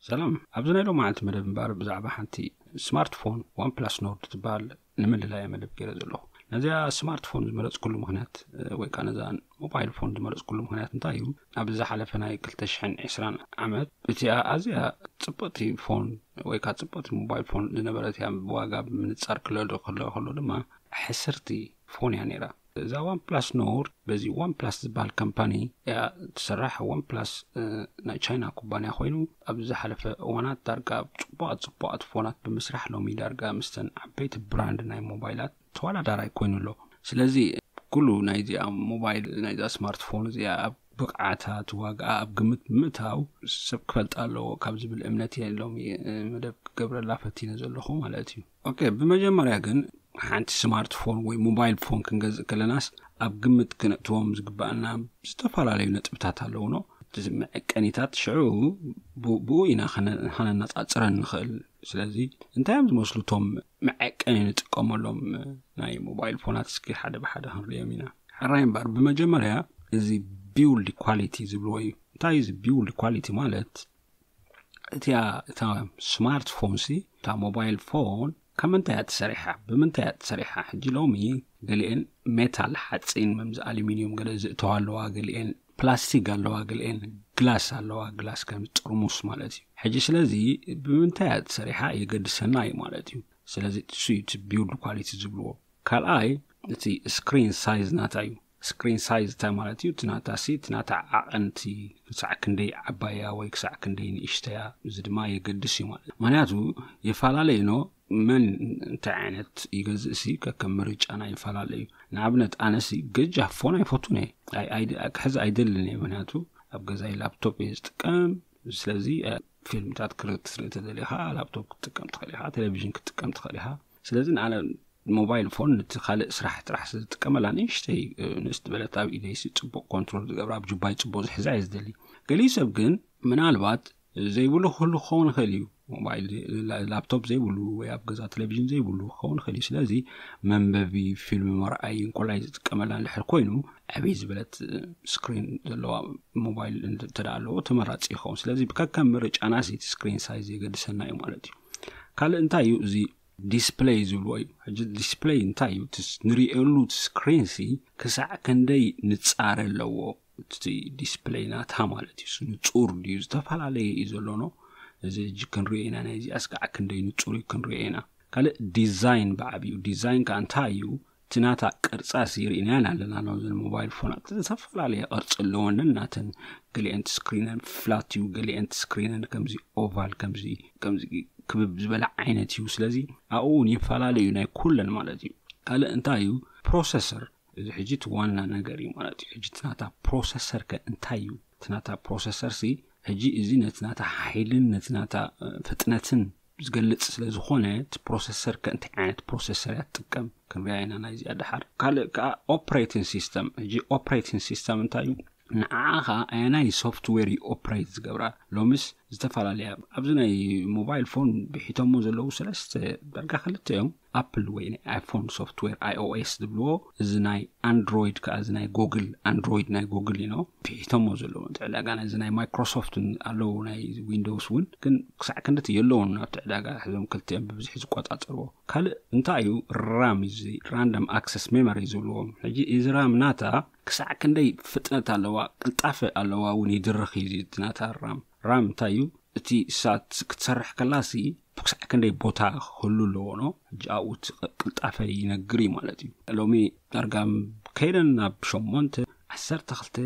ሰላም ኣብዚ ናይ ሎ መዓልቲ መደብ እምበኣር ብዛዕባ ሓንቲ ስማርትፎን ዋን ፕላስ ኖርድ ትበሃል ንምልላያ መደብ ገይረ ዘለኹ ነዚኣ ስማርትፎን ዝመረፅኩሉ ምክንያት ወይ ከዓ ነዛ ሞባይል ፎን ዝመረፅኩሉ ምክንያት እንታይ እዩ ኣብ ዝሓለፈ ናይ 220 ዓመት እቲኣ ኣዝያ ፅብቕቲ ፎን ወይ ከዓ ፅብቕቲ ሞባይል ፎን ዝነበረት እያ ብዋጋ ብምንፃር ክለዶ ክለ ከሎ ድማ ሕስርቲ ፎን እያ ነይራ እዛ ዋን ፕላስ ኖርድ በዚ ዋን ፕላስ ዝበሃል ካምፓኒ እያ ትስራሕ ዋን ፕላስ ናይ ቻይና ኩባንያ ኮይኑ ኣብ ዝሓለፈ እዋናት ዳርጋ ፅቡቃት ፅቡቃት ፎናት ብምስራሕ ሎሚ ዳርጋ ምስተን ዓበይቲ ብራንድ ናይ ሞባይላት ተወዳዳራይ ኮይኑ ኣሎ ስለዚ ኩሉ ናይዚኣ ሞባይል ናይዛ ስማርትፎን እዚኣ ኣብ ብቕዓታ ትዋግኣ ኣብ ግምት ብምእታው ሰብ ክፈልጣ ኣለዎ ካብ ዝብል እምነት እየ ሎሚ መደብ ክገብረላ ፈቲነ ዘለኹ ማለት እዩ ኦኬ ብመጀመርያ ግን ሓንቲ ስማርት ፎን ወይ ሞባይል ፎን ክንገዝእ ከለናስ ኣብ ግምት ክነእትዎም ዝግባኣና ዝተፈላለዩ ነጥብታት ኣለውኖ እቲ መዐቀኒታት ሽዑ ብኡ ኢና ከነነፃፅረን ንኽእል ስለዚ እንታይ እዮም ዝመስሉ እቶም መዐቀኒ ንጥቀመሎም ናይ ሞባይል ፎናት እስኪ ሓደ ብሓደ ክንሪኦም ኢና ሕራይ እምበር ብመጀመርያ እዚ ቢውልድ ኳሊቲ ዝብልዎ እዩ እንታይ እዚ ቢውልድ ኳሊቲ ማለት እቲኣ እታ ስማርት ፎን ሲ እታ ሞባይል ፎን ካብ ምንታይ እያ ተሰሪሓ ብምንታይ እያ ተሰሪሓ ሕጂ ሎሚ ገሊኤን ሜታል ሓፂን መምዚ ኣሉሚንዩም ገለ ዝእተዋ ኣለዋ ገሊኤን ፕላስቲክ ኣለዋ ገሊኤን ግላስ ኣለዋ ግላስ ከም ጥርሙስ ማለት እዩ ሕጂ ስለዚ ብምንታይ እያ ተሰሪሓ የገድሰና እዩ ማለት እዩ ስለዚ እሱ እዩ እቲ ቢውልድ ኳሊቲ ዝብልዎ ካልኣይ እቲ ስክሪን ሳይዝ ናታ እዩ ስክሪን ሳይዝ እንታይ ማለት እዩ? እቲ ናታ ሲ እቲ ናታ ዓቐን እቲ ክሳዕ ክንደይ ዓባይ እያ ወይ ክሳዕ ክንደይ ንእሽተ እያ እዚ ድማ የገድስ እዩ ማለት ምክንያቱ የፈላለ እዩኖ መን እንታይ ዓይነት ይገዝእ ሲ ከከም ምርጫና ይፈላለ እዩ ንኣብነት ኣነሲ ገጃ ፎን ኣይፈቱን እየ ክሕዚ ኣይደልን እየ ምክንያቱ ኣብ ገዛይ ላፕቶፕ እየ ዝጥቀም ስለዚ ፊልምታት ክርእ ክትርኢ ተደሊኻ ላፕቶፕ ክትጥቀም ትኽእል ኢኻ ቴሌቭዥን ክትጥቀም ትኽእል ኢኻ ስለዚ ንኣነ ሞባይል ፎን ንቲ ካልእ ስራሕ ጥራሕ ዝጥቀመላ ንእሽተይ ንእስ ዝበለት ኣብ ኢደይሲ ፅቡቅ ኮንትሮል ዝገብራ ኣብ ጁባይ ፅቡቅ ዝሕዛ እየ ዝደሊ ገሊኡ ሰብ ግን ምናልባት ዘይብሉ ክህሉ ክኸውን ይኽእል እዩ ሞባይል ላፕቶፕ ዘይብሉ ወይ ኣብ ገዛ ቴሌቭዥን ዘይብሉ ክኸውን ይኽእል እዩ ስለዚ መንበቢ ፊልም መርኣይ እንኮላይ ዝጥቀመላ ንድሕር ኮይኑ ዕበይ ዝበለት ስክሪን ዘለዋ ሞባይል እንተደኣ ኣለዎ ተመራፂ ይኸውን ስለዚ ብከከም ምርጫና ስቲ ስክሪን ሳይዝ የገድሰና እዩ ማለት እዩ ካልእ እንታይ እዩ እዚ ዲስፕለይ ዝብልዎ እዩ ሕጂ ዲስፕለይ እንታይ እዩ ንሪእየሉ ስክሪን ሲ ክሳዕ ክንደይ ንፃረ ኣለዎ እቲ ዲስፕለይ ናታ ማለት እዩ ንፁር ድዩ ዝተፈላለየ እዩ ዘሎኖ እዚ ሕጂ ክንሪኦ ኢና ናይዚ ኣስካዕ ክንደይ ንፁር እዩ ክንሪኦ ኢና ካልእ ዲዛይን ብዓብዩ ዲዛይን ከዓ እንታይ እዩ ትናታ ቅርጻ ሲ ርኢናያን ኣለና ን ዘን ሞባይል ፎናት ዝተፈላለየ ቅርጺ ኣለወንን ናተን ገሊአን ስክሪነን ፍላት እዩ ገሊአን ስክሪነን ከምዚ ኦቫል ከምዚ ከምዚ ክብብ ዝበለ ዓይነት እዩ ስለዚ ኣብኡ እውን ይፈላለዩ ናይ ኩለን ማለት እዩ ካልእ እንታይ እዩ ፕሮሰሰር እዚ ሕጂ እቲ ዋና ነገር እዩ ማለት እዩ ሕጂ ትናታ ፕሮሰሰር ከ እንታይ እዩ ትናታ ፕሮሰሰር ሲ ሕጂ እዚ ነቲ ናታ ሓይልን ነቲ ናታ ፍጥነትን ዝገልጽ ስለ ዝኾነ እቲ ፕሮሰሰር ከ እንታይ ዓይነት ፕሮሰሰር እያ ትጥቀም ክንሪኣ ኢና ናይዚኣ ደሓር ካልእ ከዓ ኦፕሬቲን ሲስተም ሕጂ ኦፕሬቲን ሲስተም እንታይ እዩ ንዓዓ ከዓ ኣየናይ ሶፍትዌር እዩ ኦፕሬት ዝገብራ ሎሚስ ዝተፈላለያ ኣብዚ ናይ ሞባይል ፎን ብሒቶሞ ዘለዉ ሰለስተ ዳርጋ ክልተ እዮም ኣፕል ወይ ናይ ኣይፎን ሶፍትዌር iOS ዝብልዎ እዚ ናይ ኣንድሮይድ ከዓ እዚ ናይ ጎግል ኣንድሮይድ ናይ ጎግል እዩ ነው ፊሒቶሞ ዘለዎ እቲ ዕዳጋ ናይዚ ናይ ማይክሮሶፍት ኣለዉ ናይ ዊንዶውስ እውን ግን ክሳዕ ክንድቲ የለውን ናብቲ ዕዳጋ ሕዞም ክልቲኦም ብብዝሒ ዝቆፃፀርዎ ካልእ እንታይ እዩ ራም እዚ ራንደም ኣክሰስ ሜሞሪ ዝብልዎ ሕጂ እዚ ራም ናታ ክሳዕ ክንደይ ፍጥነት ኣለዋ ቅልጣፈ ኣለዋ እውን ይድርኽ እዩ እቲ ናታ ራም ራም እንታይ እዩ እቲ ሳት ክትሰርሕ ከላሲ ክሳዕ ክንደይ ቦታ ክህሉ ኣለዎ ን ሕጂ ኣብኡ እቲ ቅልጣፈ ይነግር እዩ ማለት እዩ ሎሚ ዳርጋ ከይደን ናብ ሸሞንተ ዓሰርተ ክልተ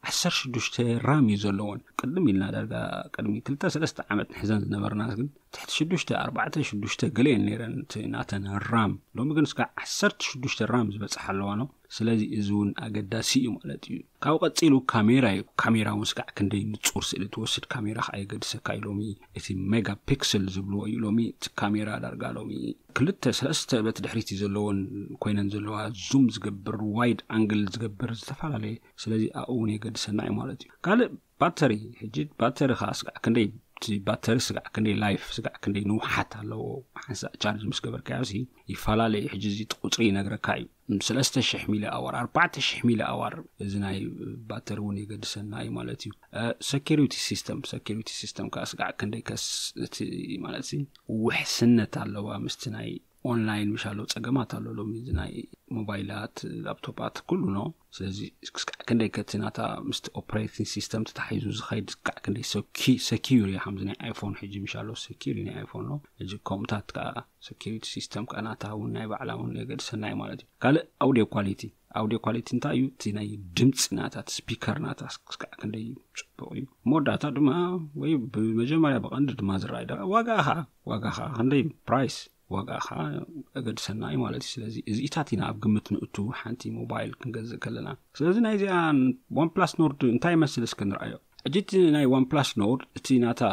ዓሰርተ ሽዱሽተ ራም እዩ ዘለዎን ቅድም ኢልና ዳርጋ ቅድሚ ክልተ ሰለስተ ዓመት ንሕዘን ዝነበርና ግን ትሕቲ ሽዱሽተ ኣርባዕተ ሽዱሽተ ገለ እየን ነይረን እቲ ናተን ራም ሎሚ ግን እስካ ዓሰርተ ሽዱሽተ ራም ዝበፅሓ ኣለዋ ን ስለዚ እዚ እውን ኣገዳሲ እዩ ማለት እዩ ካብኡ ቀጺሉ ካሜራ እዩ ካሜራ ውን ስጋዕ ክንደይ ንጹር ስእሊ ትወስድ ካሜራ ከኣ የገድሰካ እዩ ሎሚ እቲ ሜጋ ፒክስል ዝብልዎ እዩ ሎሚ እቲ ካሜራ ዳርጋ ሎሚ ክልተ ሰለስተ በቲ ድሕሪት እዩ ዘለዎን ኮይነን ዘለዋ ዙም ዝገብር ዋይድ ኣንግል ዝገብር ዝተፈላለየ ስለዚ ኣብኡ ውን የገድሰና እዩ ማለት እዩ ካልእ ባተሪ ሕጂ ባተሪ ከኣ ስጋዕ ክንደይ እቲ ባተሪ ስጋዕ ክንደይ ላይፍ ስጋዕ ክንደይ ንውሓት ኣለዎ ሓንሳእ ቻርጅ ምስ ገበርካዮ ይፈላለ እዩ ሕጂ እዚ ቁጽሪ ይነግረካ እዩ ሰለስተ ሽሕ ሚሊ ኣዋር ኣርባዕተ ሽሕ ሚሊ ኣዋር እዚ ናይ ባተሪ እውን የገድሰና እዩ ማለት እዩ ሰኪሪቲ ሲስተም ሰኪሪቲ ሲስተም ከዓ ስጋዕ ክንደይ ከስ እቲ ማለት ሲ ውሕስነት ኣለዋ ምስቲ ናይ ኦንላይን ምሻ ኣሎ ፀገማት ኣሎ ሎሚ እዚ ናይ ሞባይላት ላፕቶፓት ኩሉ ኖ ስለዚ ስጋዕ ክንደይ ከቲ ናታ ምስቲ ኦፕሬቲን ሲስተም ተታሒዙ ዝኸይድ ስጋዕ ክንደይ ሰኪሪ እዩ ከምዚ ናይ ኣይፎን ሕጂ ምሻ ኣሎ ሰኪሪ ናይ ኣይፎን ኖ ሕጂ ከምኡታት ከዓ ሰኪሪቲ ሲስተም ከኣ ናታ ውን ናይ ባዕላ ውን የገድሰና እዩ ማለት እዩ ካልእ ኣውድዮ ኳሊቲ ኣውድዮ ኳሊቲ እንታይ እዩ እቲ ናይ ድምፂ ናታ እቲ ስፒከር ናታ ስክስካዕ ክንደይ እዩ ፅቡቅ እዩ መወዳእታ ድማ ወይ ብመጀመርያ ብቀንዲ ድማ ዝረኣይ ደ ዋጋ ከዓ ዋጋ ከዓ ክንደይ እዩ ፕራይስ ዋጋ ከዓ እገድሰና እዩ ማለት እዩ ስለዚ እዚኢታት ኢና ኣብ ግምት ንእቱ ሓንቲ ሞባይል ክንገዝእ ከለና ስለዚ ናይዚኣ ዋን ፕላስ ኖርድ እንታይ ይመስል እስከ ንርኣዮ ሕጂ እቲ ናይ ዋን ፕላስ ኖርድ እቲ ናታ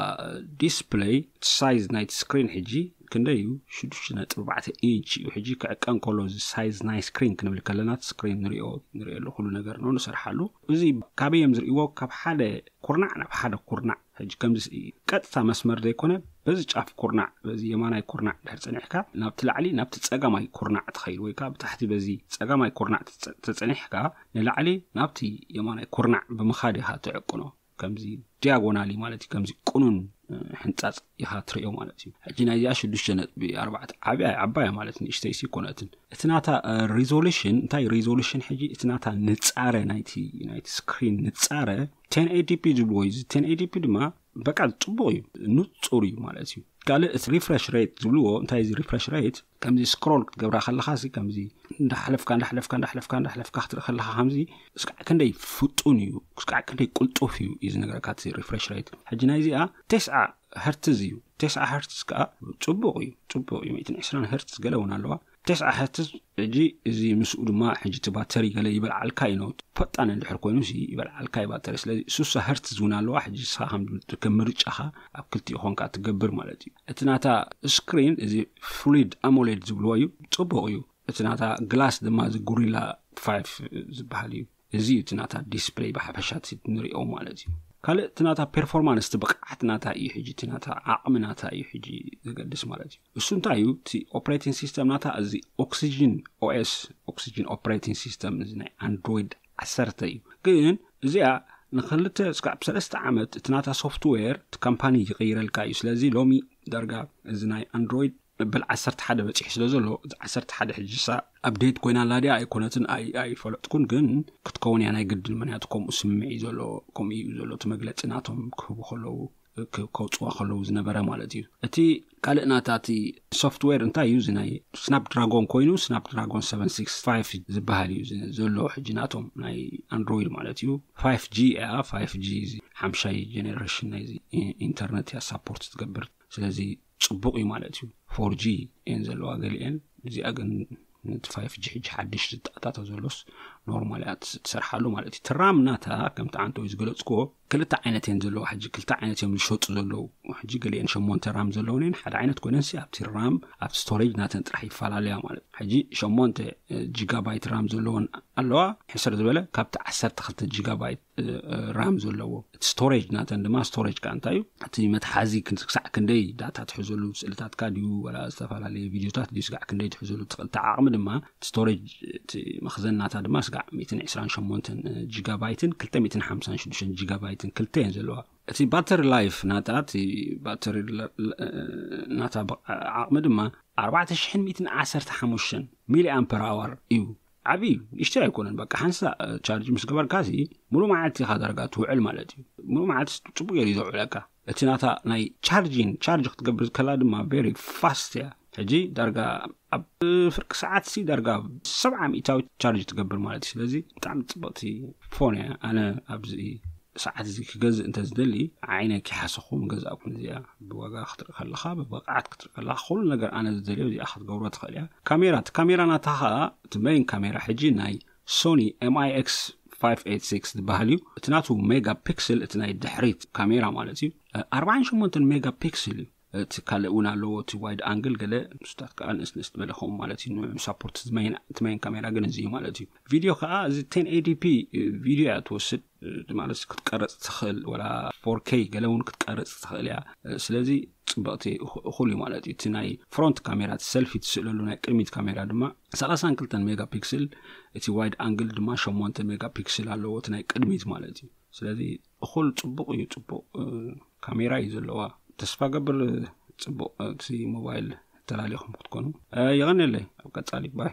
ዲስፕለይ እቲ ሳይዝ ናይቲ ስክሪን ሕጂ ክንደይ እዩ ሽዱሽተ ነጥቢ ኣርባዕተ ኢንች እዩ ሕጂ ክዕቀን ከሎ እዚ ሳይዝ ናይ ስክሪን ክንብል ከለና እቲ ስክሪን ንሪኦ ንሪኦሉ ኩሉ ነገር ነው ንሰርሓሉ እዚ ካበይ እዮም ዝርእይዎ ካብ ሓደ ኩርናዕ ናብ ሓደ ኩርናዕ ሕጂ ከምዚ ቀጥታ መስመር ዘይኮነ በዚ ጫፍ ኩርናዕ በዚ የማናይ ኩርናዕ ድሕር ፀኒሕካ ናብቲ ላዕሊ ናብቲ ፀጋማይ ኩርናዕ ትኸይድ ወይ ከዓ ብታሕቲ በዚ ፀጋማይ ኩርናዕ ተፀኒሕካ ንላዕሊ ናብቲ የማናይ ኩርናዕ ብምኻድ ኢኻ ትዕቅኖ ከምዚ ዲያጎናሊ ማለት እዩ ከምዚ ቅኑን ሕንፃፅ ኢኻ ትርእዮ ማለት እዩ ሕጂ ናይዚኣ ሽዱሽተ ነጥቢ ኣርባዕተ ዓብያ ዓባያ ማለት ንእሽተይ ሲ ኮነትን እቲ ናታ ሪዞሉሽን እንታይ ሪዞሉሽን ሕጂ እቲ ናታ ንፃረ ናይቲ ናይቲ ስክሪን ንፃረ ቴን ኤዲፒ ዝብልዎ እዩ እዚ ቴን ኤዲፒ ድማ በቃ ፅቡቅ እዩ ንፁር እዩ ማለት እዩ ካልእ እቲ ሪፍረሽ ሬት ዝብልዎ እንታይ እዚ ሪፍረሽ ሬት ከምዚ ስክሮል ክትገብራ ከለካ እዚ ከምዚ እንዳሓለፍካ እንዳሓለፍካ እንዳሓለፍካ እንዳሓለፍካ ክትርኢ ከለካ ከምዚ እስካዕ ክንደይ ፍጡን እዩ እስካዕ ክንደይ ቁልጡፍ እዩ እዩ ዝነገረካ እቲ ሪፍሬሽ ሬት ሕጂ ናይ እዚኣ ቴስዓ ሀርትዝ እዩ ቴስዓ ሀርትዝ ከዓ ፅቡቅ እዩ ፅቡቅ እዩ ሚእትን ዕስራን ሀርትዝ ገለ እውን ኣለዋ ቴስዓ ሀርትዝ ሕጂ እዚ ምስኡ ድማ ሕጂ እቲ ባተሪ ገለ ይበልዓልካ እዩ ነው ፈጣን እንድሕር ኮይኑ ይበልዓልካ እዩ ባተሪ ስለዚ ሱሳ ሀርትዝ እውን ኣለዋ ሕጂ ንስኻ ከም ምርጫኻ ኣብ ክልቲኡ ኮንካ ትገብር ማለት እዩ እቲ ናታ ስክሪን እዚ ፍሉድ ኣሞሌድ ዝብልዎ እዩ ፅቡቅ እዩ እቲ ናታ ግላስ ድማ እዚ ጉሪላ ፋ ዝበሃል እዩ እዚ እዩ እቲ ናታ ዲስፕለይ ብሓፈሻ ንሪኦ ማለት እዩ ካልእ እቲ ናታ ፐርፎርማንስ እቲ ብቕዓት ናታ እዩ ሕጂ እቲ ናታ ዓቕሚ ናታ እዩ ሕጂ ዘገድስ ማለት እዩ እሱ እንታይ እዩ እቲ ኦፕሬቲንግ ሲስተም ናታ እዚ ኦክሲጅን ኦኤስ ኦክሲጅን ኦፕሬቲንግ ሲስተም እዚ ናይ ኣንድሮይድ ዓሰርተ እዩ ግን እዚኣ ንክልተ ስካብ ሰለስተ ዓመት እቲ ናታ ሶፍትዌር እቲ ካምፓኒ ይቕይረልካ እዩ ስለዚ ሎሚ ዳርጋ እዚ ናይ ኣንድሮይድ መበል ዓሰርተ ሓደ በፂሑ ስለ ዘሎ እዚ ዓሰርተ ሓደ ሕጂሳ ኣብዴት ኮይና ኣላ ድያ ኣይኮነትን ኣይፈለጥኩን ግን ክትከውን እያ ናይ ግድን ምክንያቱ ከምኡ ስምዒ ዘሎ ከምኡ እዩ ዘሎ እቲ መግለፂ ናቶም ክህቡ ከለዉ ከውፅዋ ከለዉ ዝነበረ ማለት እዩ እቲ ካልእ ናታ እቲ ሶፍትዌር እንታይ እዩ ናይ ስናፕ ድራጎን ኮይኑ ስናፕ ድራጎን 765 ዝበሃል እዩ ዘሎ ሕጂ ናቶም ናይ ኣንድሮይድ ማለት እዩ 5ጂ እያ 5ጂ ሓምሻይ ጀነሬሽን ናይ ኢንተርነት እያ ሳፖርት ዝገብር ስለዚ ፅቡቅ እዩ ማለት እዩ ፎርጂ እየን ዘለዋ ገሊአን እዚኣ ግን ነቲ 5ጂ ሕጂ ሓድሽ ዝጣጣተ ዘሎስ ኖርማል እያ ትሰርሓሉ ማለት እዩ ትራም ናታ ከምቲ ዓንተወይ ዝገለፅክዎ ክልተ ዓይነት እየን ዘለዋ ሕጂ ክልተ ዓይነት እዮም ዝሸጡ ዘለዉ ሕጂ ገሊአን ሸሞንተ ራም ዘለውን እየን ሓደ ዓይነት ኮይነንሲ ኣብቲ ራም ኣብቲ ስቶሬጅ ናተን ጥራሕ ይፈላለያ ማለት ሕጂ ሸሞንተ ጂጋባይት ራም ዘለዎን ኣለዋ ሕስር ዝበለ ካብቲ ዓሰርተ ክልተ ጂጋባይት ራም ዘለዎ እቲ ስቶሬጅ ናተን ድማ ስቶሬጅ ከዓ እንታይ እዩ እቲ መትሓዚ ክሳዕ ክንደይ ዳታ ትሕዘሉ ስእልታትካ ድዩ ወላ ዝተፈላለየ ቪድዮታት ድዩ ስጋዕ ክንደይ ትሕዘሉ ትኽእል እቲ ዓቕሚ ድማ ስቶሬጅ እቲ መኽዘን ናታ ድማ ስጋዕ 128 ጂጋባይትን 256 ጂጋባይትን ክልተ እየን ዘለዋ እቲ ባተሪ ላይፍ ናታ እቲ ባተሪ ናታ ዓቕሚ ድማ 4115 ሚሊ ኣምፐር ኣዋር እዩ ዓብዪ እዩ ንእሽተ ኣይኮነን በቃ ሓንሳ ቻርጅ ምስ ገበርካ ሲ ሙሉእ መዓልቲ ኢኻ ዳርጋ ትውዕል ማለት እዩ ሙሉእ መዓልቲ ፅቡቅ ገይሩ እዩ ዘውዕለካ እቲ ናታ ናይ ቻርጂን ቻርጅ ክትገብር ከላ ድማ ቨሪ ፋስት እያ ሕጂ ዳርጋ ኣብ ፍርቂ ሰዓት ሲ ዳርጋ ሰብዓ ሚእታዊት ቻርጅ ትገብር ማለት እዩ ስለዚ ብጣዕሚ ፅብቕቲ ፎን እያ ኣነ ኣብዚ ሰዓት እዚ ክገዝእ እንተዝደሊ ዓይነ ኪሓሰኹ ምገዛእኩም እዚኣ ብዋጋ ክትርኢ ከለኻ ብብቕዓት ክትርኢ ከለኻ ኩሉ ነገር ኣነ ዝደልዮ እዚኣ ክትገብሮ ትኽእል እያ ካሜራ እቲ ካሜራ ናታ ከዓ እቲ መይን ካሜራ ሕጂ ናይ ሶኒ ኤምኣይኤክስ 586 ዝበሃል እዩ እቲ ናቱ ሜጋ ፒክስል እቲ ናይ ድሕሪት ካሜራ ማለት እዩ 48 ሜጋ ፒክስል እዩ እቲ ካልእ እውን ኣለዎ እቲ ዋይድ ኣንግል ገለ ምስታት ከዓ ንእስንእስት በለ ከምኡ ማለት እዩ ንሳፖርት እቲ መይን ካሜራ ግን እዚ እዩ ማለት እዩ ቪድዮ ከዓ እዚ ቴን ኤዲፒ ቪድዮ እያ ትወስድ ማለት ክትቀረፅ ትኽእል ወላ ፎርከይ ገለ እውን ክትቀርፅ ትኽእል እያ ስለዚ ፅበቕቲ እኹል እዩ ማለት እዩ እቲ ናይ ፍሮንት ካሜራ እቲ ሰልፊ ትስእለሉ ናይ ቅድሚት ካሜራ ድማ 32 ሜጋ ፒክስል እቲ ዋይድ ኣንግል ድማ 8 ሜጋ ፒክስል ኣለዎ እቲ ናይ ቅድሚት ማለት እዩ ስለዚ እኹል ፅቡቕ እዩ ፅቡቕ ካሜራ እዩ ዘለዋ ተስፋ ገብር ፅቡቅ እቲ ሞባይል ተላሊኹም ክትኮኑ የቀኒየለይ ኣብ ቀፃሊ ባይ